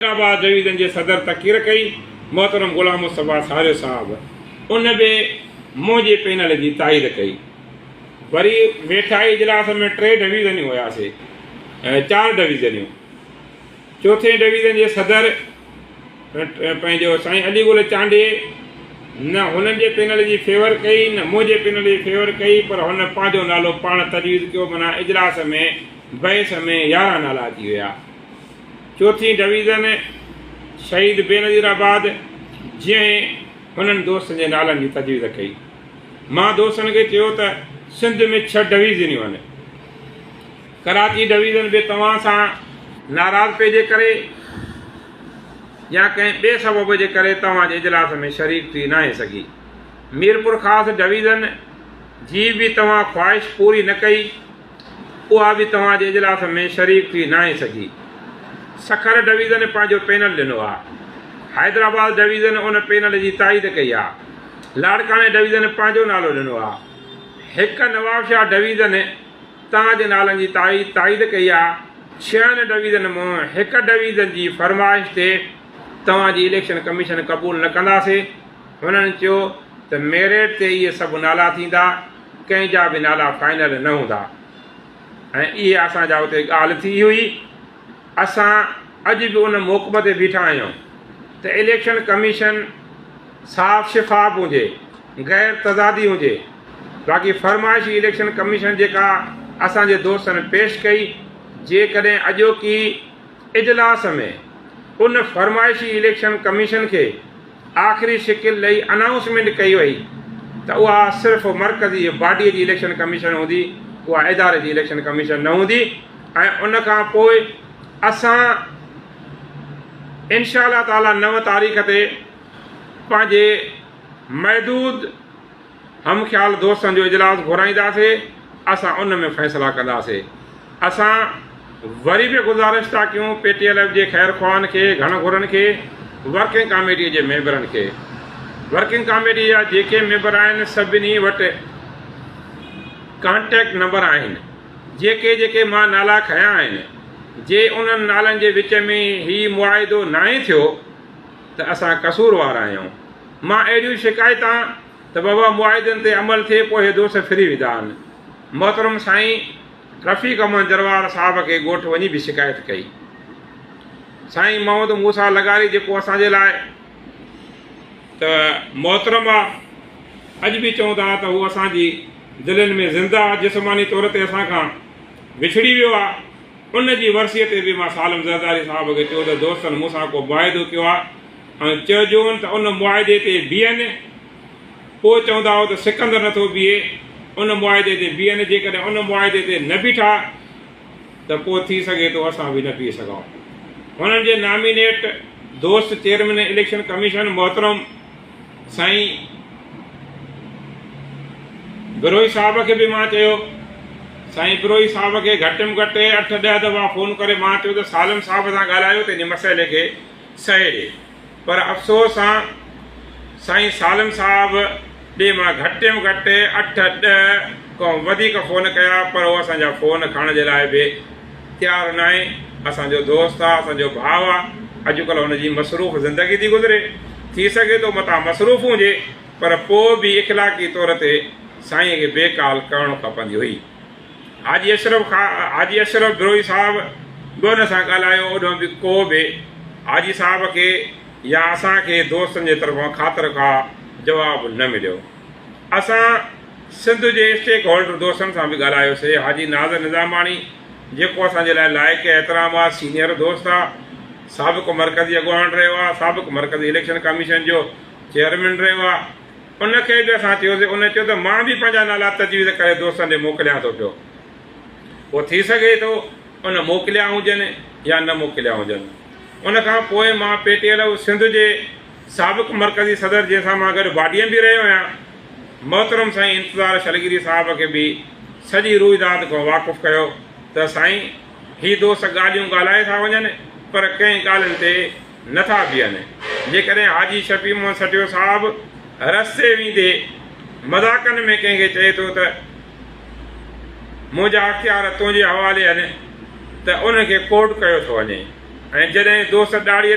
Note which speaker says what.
Speaker 1: آباد ڊويزن جي صدر تقرير ڪئي محترم غلام مصطفيٰ ساريو صاحب ان به منهنجي پينل جي تائيد ڪئي وري ويٺائي اجلاس ۾ ٽي ڊويزنيون هياسي چار ڊويزنيون چوٿين ڊويزن جي صدر پنهنجو سائين علي گل چانڊي نه هنن جي پينل جي فيور ڪئي نه منهنجي پينل جي فيور ڪئي پر هن پنهنجو نالو پاڻ تجويز ڪيو منا اجلاس ۾ بحث ۾ يارهن نالا اچي ويا چوٿين ڊويزن شهيد بينظير آباد جيئن هنن دوستن جي نالن جي تجويز ڪئي. مان دوستن کي چيو ته سنڌ ۾ ڇهه ڊويزنيون آهن. ڪراچي ڊويزن به توهان سان ناراضپي جي ڪري يا ڪنهن ٻئي سبب جي ڪري توهان جي اجلاس ۾ شريڪ ٿي ناهي سگهي. ميرپورخاص ڊويزن جي به توهان خواهش پوري نه ڪئي. اها به توهان جي اجلاس ۾ شريڪ ٿي ناهي سگهي. سکر ڊويزن پنهنجو پينل ڏنو آهي. حيدرآباد ڊويزن ان پينل جي تائيد ڪئي آهي. لاڙڪاڻي ڊويزن پنهنجو نالو ڏنو آهي. هڪ نوابشاهه ڊويزن تان جي نالن جي تائيد ڪئي آهي. ڇهن ڊويزن مان هڪ ڊويزن جي فرمائش تي توهان جي اليڪشن ڪميشن قبول نه ڪنداسين. هنن چيو ته ميرٽ تي اهي سڀ نالا ٿيندا. ڪنهن جا به نالا فائنل نه هوندا ۽ اهي اسان جا اتي ڳالهه ٿي هئي. اسان اڄ به ان موقف تي بيٺا آهيون ته اليڪشن ڪميشن صاف شفاف هجي، غير تضادي هجي، باقي فرمائشي اليڪشن ڪميشن جيڪا اسان جي دوستن پيش ڪئي، جيڪڏهن اڄوڪي اجلاس ۾ ان فرمائشي اليڪشن ڪميشن کي آخري شڪل ڏئي انائونسمينٽ ڪئي وئي ته اها صرف مرڪزي باڊي جي اليڪشن ڪميشن هوندي اها اداري جي اليڪشن ڪميشن نه هوندي ۽ ان کان پوء اسان انشاء الله تعالي نو تاريخ تي پنهنجي محدود هم خيال دوستن جو اجلاس گهرائينداسي اسان ان ۾ فيصلا ڪنداسي اسان وري به گذارش ٿا ڪيون پي ٽي ايل ايف جي خير خواهن کي گهڻ گهرن کي ورڪنگ ڪاميٽي جي ميمبرن کي ورڪنگ ڪاميٽي جا جيڪي ميمبر آهن سڀني وٽ ڪانٽيڪٽ نمبر آهن جيڪي جيڪي مان نالا کنيا آهن جي انهن نالن جي وچ ۾ هي معاهدو ناهي ٿيو ته اسان قصوروار آهيون. مان اهڙيون شڪايتان ته بابا معاهدن تي عمل ٿئي پوء اهي دوست ڦري ويندا آهن. محترم سائين رفيق احمد جروار صاحب کي ڳوٺ وڃي به شڪايت ڪئي. سائين محمد موسيٰ لغاري جيڪو اسان جي لاء ته محترم آ اڄ به چئون ٿا ته هو اسان جي دلين ۾ زنده آ جسماني طور تي اسان کان وڇڙي ويو آ ان جي ورسيء تي به مان سالم زرداري صاحب کي چيو ته دوستن مون سان ڪو معاهدو ڪيو آهي ۽ چئجون ته ان معاهدي تي بيهن. پوء چوندا هئا ته سڪندر نٿو بيهي، ان معاهدي تي بيهن، جيڪڏهن ان معاهدي تي نه بيٺا ته پوء ٿي سگهي ٿو اسان به نه بيهي سگهون. هنن جي نامينيٽ دوست چيئرمين اليڪشن ڪميشن محترم سائين بروهي صاحب کي به مان چيو. سائين بروهي صاحب کي گهٽ م گهٽ اٺ ڏهه دفعا فون ڪري مان چيو ته سالم صاحب سان ڳالهايو ته هن مسئلي کي سهي ڏي پر افسوس سان سائين سالم صاحب ڏي مان گهٽ م گهٽ اٺ ڏهه کان وڌيڪ فون ڪيا پر هو اسان جا فون کڻڻ جي لاء به تيار ناهي، اسان جو دوست آ، اسان جو ڀاء آ، اڄڪلهه هن جي مصروف زندگي ٿي گذري، ٿي سگهي ٿو متان مصروف هجي، پر پوء به اخلاقي طور تي سائينء کي بي ڪال ڪرڻ کپندي هئي. حاجي اشرف خا حاجي اشرف بروهي صاحب به هن سان ڳالهايو، اوڏانهن به ڪو به حاجي صاحب کي يا اسان کي دوستن جي طرفان خاطر خواهه جواب نه مليو. اسان. سنڌ جي اسٽيڪ هولڊر دوستن سان به ڳالهايو سي حاجي ناظر نظاماڻي جيڪو اسان جي لاء لائق احترام آ سينئر دوست آ سابق مرڪزي اڳواڻ رهيو آ سابق مرڪزي اليڪشن ڪميشن جو چيئرمين رهيو آ ان کي به اسان چيو سي ان چيو ته مان به پنهنجا نالا تجويز ڪري دوستن ڏي موڪليان ٿو پيو پو ٿي سگهي ٿو ان موڪليا هجن يا نه موڪليا هجن ان کان پوء مان P T L O Sindh جي سابق مرڪزي صدر جنهن سان مان گڏ باڊيم به رهيو آهيان محترم سائين انتظار شلگيري صاحب کي به سڄي روئداد کان واقف ڪيو ته سائين هي دوست ڳالهيون ڳالهائي ٿا وڃن پر ڪنهن ڳالهين تي نه ٿا بيهن جيڪڏهن حاجي شفيع محمد سٽيو صاحب رستي ويندي مذاقن ۾ ڪنهن کي چئي ٿو ته منهنجا اختيار تنهنجي حوالي آهن ته ان کي ڪوٽ ڪيو ٿو وڃي ۽ جڏهن دوست ڏاڙهي